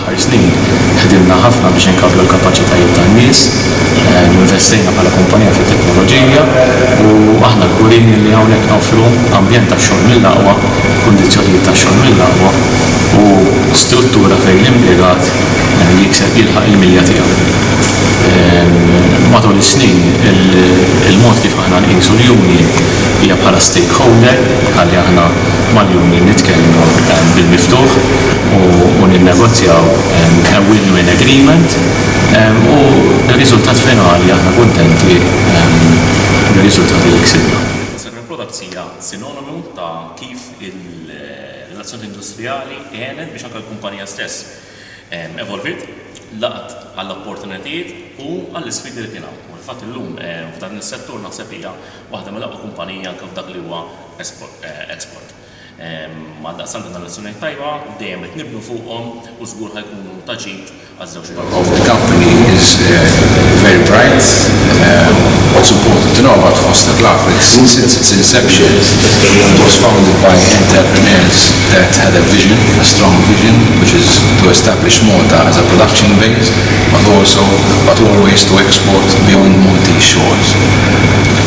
Fl-aħħar snin ħdimna ħafna biex inkabbru l-kapaċitajiet tan-nies, investejna bħala kumpanija fit-teknoloġija u aħna kburin li hawnhekk noffru ambjent tax-xogħol mill-aqwa, kundizzjonijiet tax-xogħol mill-aqwa u struttura fejn l-impjegat jikseb jilħaq il-milja tiegħu. Matul is-snin, il-mod kif aħna nqisu l-union hija bħala stakeholder, bħalli aħna, mal-jum li nitkellmu bil-miftuħ u ninnegozjaw a win-win agreement u bir-riżultat finali aħna kuntenti bir-riżultati li ksibna. Naħseb li l-prodotti hija sinonimu ta' kif il-relazzjoni industrijali għenet biex anke l-kumpanija stess evolviet, laqgħet għall-opportunitajiet u għall-isfidi li kien hawn. U fil-fatt illum f'dan is-settur naħseb hija waħda mill-aqwa kumpaniji anke f'dak li huwa export. Għaldaqstant dawn ir-relazzjonijiet tajba dejjem qed nibnu fuqhom u żgur ħa jkunu ta' ġid għaż-żewġ naħat. of the company is very bright. What's important to know about Foster Glavex, since its inception it was founded by entrepreneurs that had a vision, a strong vision, which is to establish Malta as a production base, but also, but always to export beyond Maltese shores.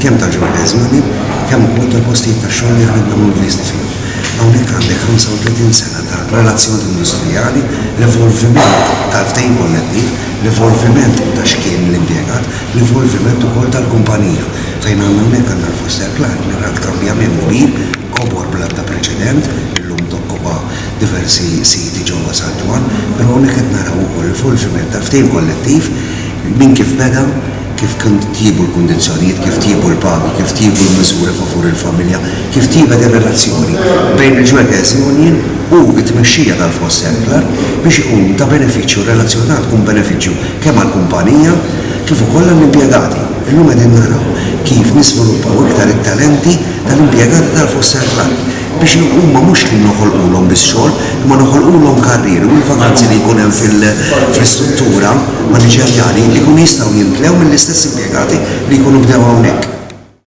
Kemm ta' ġodda eżami, kemm ukoll ta' postijiet tax-xogħol li aħna nkunu invisti fihom. Hawnhekk għandek 35 sena ta' relazzjoni industrijali, l-evolviment tal-ftehim kollettiv, l-evolviment ta' x'kien l-impjegat, l-evolviment ukoll tal-kumpanija. Fejn għandna hawnhekk għandna l-Foster Clark li rat kambjament kbir, kobor bl-ebda preċedent, illum tokkupa diversi siti ġewwa San Ġwann, però hawnhekk qed naraw ukoll l-evolviment tal-ftehim kollettiv minn kif beda, kif tjiebu l-kundizzjonijiet, kif tjiebu l-pagi, kif tjiebu l-miżuri favur il-familja, kif tjiebet ir-relazzjoni bejn il-Jewegers Union u t-tmexxija tal-Foss Circular biex ikun ta' benefiċċju, r-relazzjoni tagħna tkun benefiċċju kemm għall-kumpanija kif ukoll għall-impjegati. Illum qegħdin naraw kif niżviluppaw iktar it-talenti tal-impjegati tal-Foss Circular. biex huma mhux li noħolqulhom biss xogħol imma noħolqulhom karrieri u l-vakanzi li jkun hemm fl-istruttura maniġerjali jkunu jistgħu jimtlew mill-istess impjegati li jkunu bdew hawnhekk.